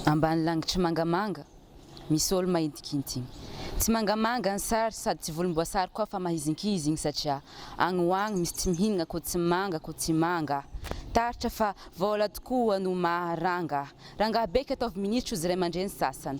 Ambany langitry mangamanga, misy olo mahintinkintiny. Tsy mangamanga ny sary sady tsy volomboasary koa fa mahizinkizigny satria agny ho agny misy tsy mihinagna ko tsy manga ko tsy manga. Taritra fa vôla tokoa no maha ranga. Rangaha beky ataovy minisitry ozy ray aman-dreny sasany.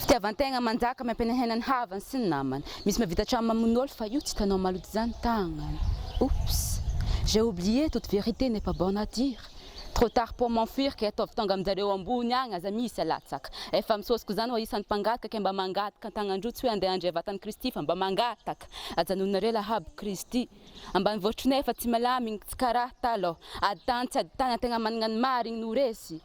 Fitiavan-tegna manjaka miampenenhena ny havany sy ny namany. Misy mahavita hatramin'ny mamono olo fa io tsy hitanao maloto izany tagnany. Oups! J'ai oublié toute vérité n'est pas bonne à dire. Trop tard pour m'enfuir kay ataovy tonga amin-jareo ambony agny aza misy alatsaka. Efa misôsoko izany ho isan'ny mpangataka kay mba mangataka an-tagnandroa tsy hoe andeha handre vatan'i Kristy fa mba mangataka ajanononareo lahabo Kristy. Ambanivôtro nefa tsy malama igny tsy karaha talôha. Ady tany tsy ady tany an-tegna managna ny marigny no resy.